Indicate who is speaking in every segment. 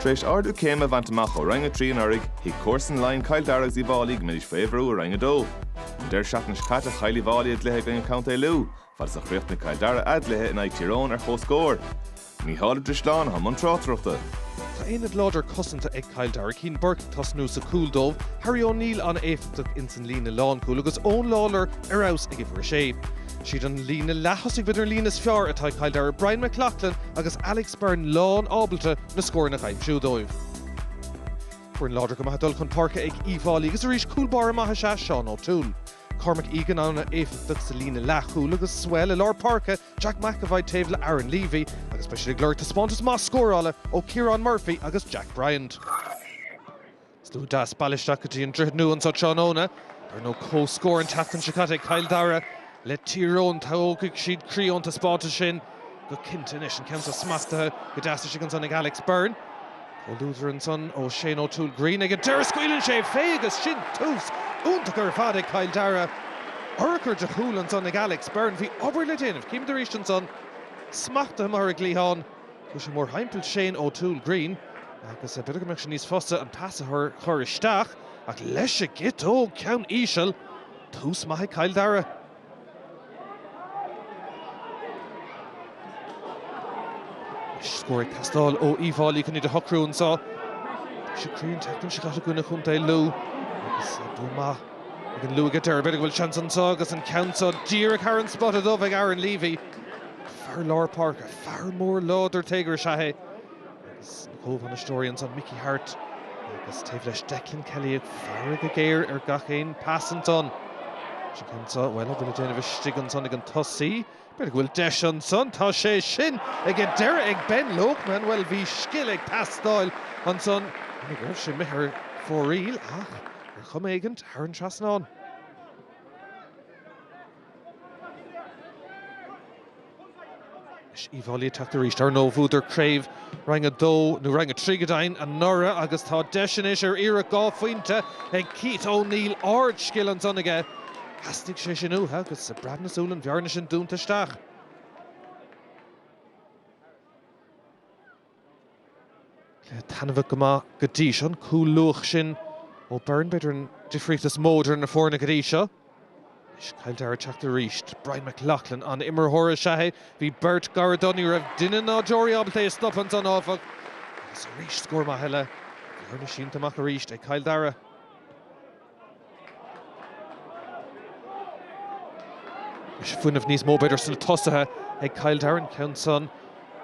Speaker 1: Tar éis ardú céime a bhaint amach ó Roinn 3 anuraidh, thuig comharsain Laighean Cill Dara agus Uí bhFáilí go mbeidís faoi bhrú i Roinn 2. An deireadh seachtaine seo caite chaill Uí bhFáilí a gcluiche i gcoinne Co. Lú, fad is a chríochnaigh Cill Dara a gcluiche in aghaidh Tír Eoghain ar chomhscór. Micheál Ó Drisleáin atá i mbun tráchtaireachta. Tá
Speaker 2: aonad láidir cosanta ag Cill Dara, Cian Burke ag tosnú sa chúl dóibh, Harry O'Neill ana-éifeachtach insan líne lánchúil agus Eoin Lawlor ar fheabhas ag uimhir a sé. Siad an líne leath-thosaigh b'fhéidir an líne is fearr atá ag Cill Dara, Brian McLaughlin agus Alex Beirne lán ábalta na scóranna a aimsiú dóibh. Foireann láidir go maith ag dul chun páirce ag Uíbh Fháilí agus arís cúlbáire maith is ea Shane O'Toole. Cormac Egan ana éifeachtach sa líne leathchúil agus thuas i lár páirce, Jack McEvoy taobh le Aaron Leavy agus beidh siad ag lorg taispeántas maith scórála ó Ciarán Murphy agus Jack Bryant. Slua deas bailithe isteach go dtí an Droichead Nua anseo tráthnóna. Ar ndóigh comhscór an tseachtain seo caite ag Cill Dara le Tír Eoghain. Tógfaidh siad croí ón taispeántas sin go cinnte anois. An ceann seo smachtaithe go deas istigh ansan ag Alex Beirne. Ó lúth ansan ó Shane O'Toole Greene ag an deireadh. Scaoileann sé fé agus sin tús iontach ar fad ag Cill Dara. Urchar de chúl ansan ag Alex Beirne. Bhí obair le déanamh. Chímid arís ansan smachtaithe amuigh ar an gcliathán. Chuaigh sé mórthimpeall Shane O'Toole Greene agus b'fhéidir go mbeadh sé níos fusa an pas a chuir isteach ach leis a gciotóg ceann íseal, tús maith ag Cill Dara. Anois scór ag teastáil ó Uí bhFáilí chun iad a shocrú anseo. Bhí sé cruinn an tseachtain seo caite i gcoinne chontae Lú agus bua maith ag an Lú ag an deireadh. B'fhéidir go bhfuil seans anseo agus an ceann seo díreach os cionn an spota dubh ag Aaron Leavy. Fear lár páirce, fear mór láidir téagartha is ea é agus na comhbhainisteoirí ansan, Mickey Harte agus taobh leis Declan Kelly ag faire go géar ar gach aon phas ansan. Is an ceann so, bhuel, a bhfuil le déanamh istigh ansan ag an tosaí? B'fhéidir go bhfuil deis ansan, tá sé sin ag an deireadh ag Ben Loakman, bhuel, bhí scil ag teastáil ansan, shíl mé go raibh sé imithe ar fóraoil ach ar chuma éigin, thar an trasnán. Is Uíbh Fhailí ag teacht arís. Ar ndóigh bhuadar craobh Roinn 2, nó Roinn 3 go deimhin, anuraidh agus tá deis anois ar iarracht dhá phointe ag Keith O'Neill. Ard-scil ansan aige. Theastaigh sé sin uathu agus i bhfaiteadh na súl an bhearna sin dúnta isteach. Cluiche taitneamhach go maith go dtí seo an cúl luath sin ó Beirne. B'fhéidir an difríocht is mó idir na foirne go dtí seo. Anois Cill Dara ag teacht arís. Brian McLaughlin an-imreoir is ea é. Bhí beirt gar dó. Ní raibh duine ná deoraí ábalta é a stopadh ansan, áfach. Agus arís scór maith eile. Bearna sínte amach arís ag Cill Dara. Is fuinneamh níos mó b'fhéidir sna tosaithe ag Cill Dara, an ceann san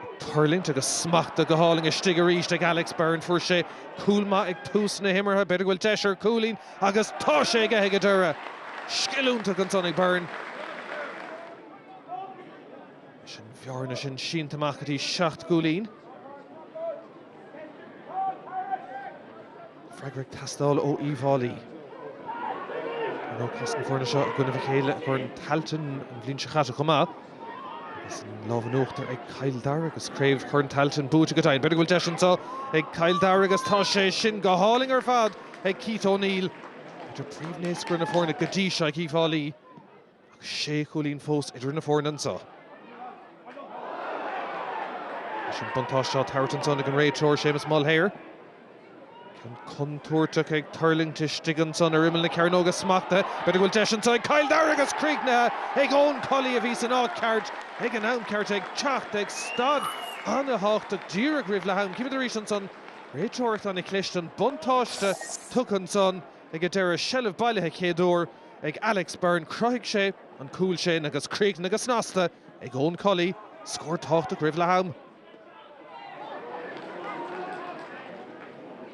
Speaker 2: ag tuirlingt agus smachtaithe go hálainn istigh arís ag Alex Beirne. Fuair sé cúl maith ag tús na himeartha, b'fhéidir go bhfuil deis ar chúilín agus tá sé aige ag an deireadh! Scil iontach ansan ag Beirne. Is an bhearna sin sínte amach go dtí seacht gcúilín. Freagra ag teastáil ó Uíbh Fháilí. Ar ndóigh chas na foirne seo i gcoinnibh a chéile i gCorn Tailteann an bhliain seo chaite chomh maith agus an lámh in uachtar ag Cill Dara agus craobh Chorn Tailteann buaite acu go deimhin. B'fhéidir go bhfuil deis anseo ag Cill Dara agus tá sé sin go hálainn ar fad ag Keith O'Neill. B'fhéidir príomhnaoscaire na foirne go dtí seo ag Uíbh Fháilí. Ach sé chúilín fós idir na foirne anseo. Leis an buntáiste á tabhairt ansan ag an réiteoir, Séamus Mulhare. Ceann contúirteach ag tuirlingt istigh ansan ar imeall na cearnóga, smachtaithe. B'fhéidir go bhfuil deis anso ag Cill Dara agus críochnaithe ag Eoin Cully a bhí san áit cheart ag an am ceart ag teacht ag staid an-thábhachtach díreach roimh leath-am. Címid arís ansan réiteoireacht an-chliste, an buntáiste tugtha ansan. Ag an deireadh, seilbh bailithe chéad uair ag Alex Beirne, chruthaigh sé an cúl sin agus críochnaithe go snasta ag Eoin Cully, scór tábhachtach roimh leath am.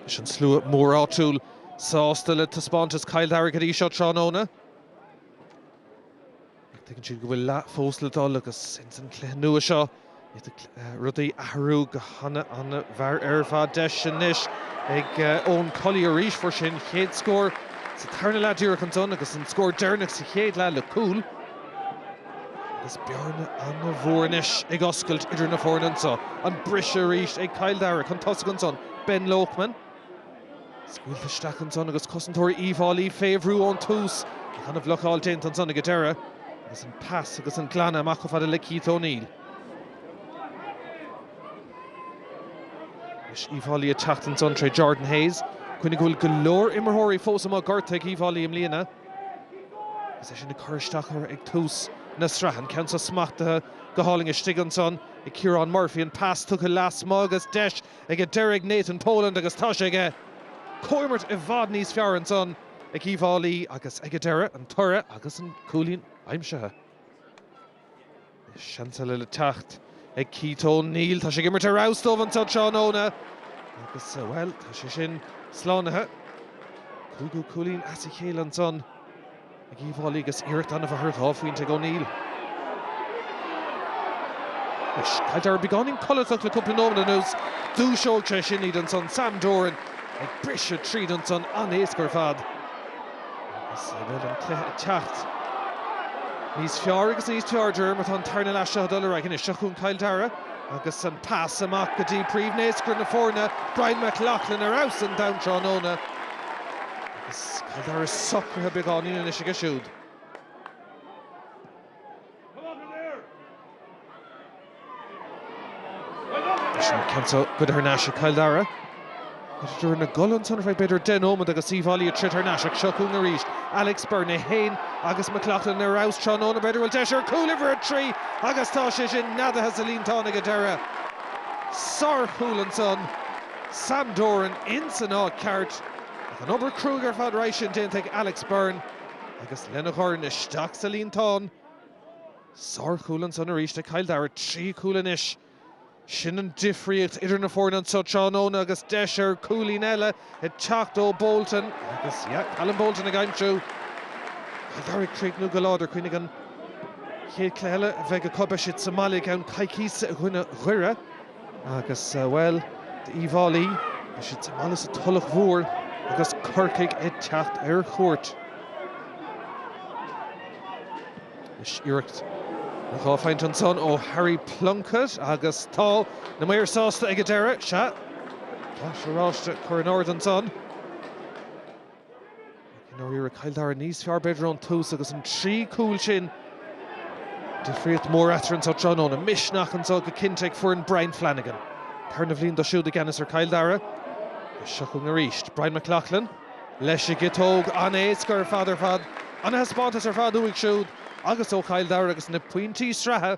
Speaker 2: Is an slua mór áitiúil sásta le taispeántas Chill Dara go dtí seo tráthnóna, ach tuigeann siad go bhfuil leath fós le dul agus ins an chluiche nua seo bíonn rudaí ag athrú go han-an-mhear ar fad. Deis anois ag Eoin Cully arís, fuair sé an chéad scór sa tarna leath díreach ansan agus an scór deireanach sa chéad leath le cúl agus bearna an-mhór anois ag oscailt idir na foirne anso. An briseadh arís ag Cill Dara chun tosaigh ansan, Ben Loakman. Scaoilte isteach ansan agus cosantóirí Uíbh Fháilí fé bhrú ón tús. Ach an-bhlocáil déanta ansan ag an deireadh agus an pas agus an glanadh amach chomh fada le Keith O'Neill. Anois Uíbh Fháilí ag teacht ansan tré Jordan Hayes. Cuimhnigh go bhfuil go leor imreoirí fós amuigh gortaithe ag Uíbh Fháilí i mbliana agus é sin ag cur isteach orthu ag tús na sraithe. An ceann seo smachtaithe go hálainn istigh ansan ag Ciarán Murphy. An pas tugtha leasmuigh agus deis ag an deireadh ag Nathan Poland agus tá sé aige comhimirt i bhfad níos fearr ansan ag Uíbh Fháilí agus ag an deireadh, an toradh agus an cúilín aimsithe. Seans eile le teacht ag Keith O'Neill. Tá sé ag imirt ar fheabhas dóibh anseo tráthnóna agus, bhuel, tá sé sin slánaithe. Cúigiú cúilín as a chéile ansan Ag Uíbh Fhailí agus iarracht annamh ar dhá phointe ag O'Neill. Anois Cill Dara beagáinín codlatach le cúpla nóiméad anuas. Dúiseoidh sé sin iad ansan. Sam Doran ag briseadh tríd ansan. An-éasca ar fad. Agus an bhfuil an cluiche ag teacht níos fearr agus níos fearr? De réir mar tá an tarna leath seo ag dul ar aghaidh anois. Seo chugainn Cill Dara agus an pas amach go dtí príomhnaoscaire na foirne, Brian McLaughlin, ar fheabhas ar domhan tráthnóna. Is Cill Dara socraithe beagáinín anois acu siúd? Is sin ceann so go dtí tar n-ais ag Cill Dara. Tar éis na gcúl ansan? Bheadh b'fhéidir den ómaid agus Uíbh Fhailí ag troid thar n-ais ach seo chugainn arís. Alex Beirne, é féin agus McLaughlin ar fheabhas tráthnóna. B'fhéidir go bhfuil deis ar chúl uimhir a trí agus tá sé sin neadaithe sa líontán ag an deireadh. Sárchúl ansan. Sam Doran ins an áit ceart ach an obair cruaidh ar fad roimhe sin déanta ag Alex Beirne agus lena dhorn isteach sa líontán. Sár chúl ansan arís ag Cill Dara, trí chúl anois. Sin é an difríocht idir na foirne anseo tráthnóna agus deis ar chúilín eile ag teacht ó Bolton agus yeah, Callum Bolton ag aimsiú. Cill Dara ag críochnú go láidir, cuimhnigh an chéad cluiche eile a bheith acu beidh siad sa mbaile i gceann coicíse i gcoinne Dhoire. Agus, bhuel, d'Uíbh Fhailí, beidh siad sa mbaile sa Tulach Mhór agus Corcaigh ag teacht ar chuairt. Anois iarracht ar dhá phointe ansan ó Harry Plunkett agus tá na maoir sásta ag an deireadh. Sea, tá oráiste á chur in airde ansan. I ndáiríre, Cill Dara níos fearr b'fhéidir ón tús agus na trí chúl sin, difríocht mór eatarthu anseo tráthnóna. Misneach anseo go cinnte ag foireann Brian Flanagan. Tarna bliain dó siúd i gceannas ar Chill Dara agus seo chugainn arís. Brian McLaughlin leis an gciotóg. An-éasca ar fad ar fad. An-thaispeántas ar fad uaidh siúd agus ó Chill Dara agus na pointí sraithe.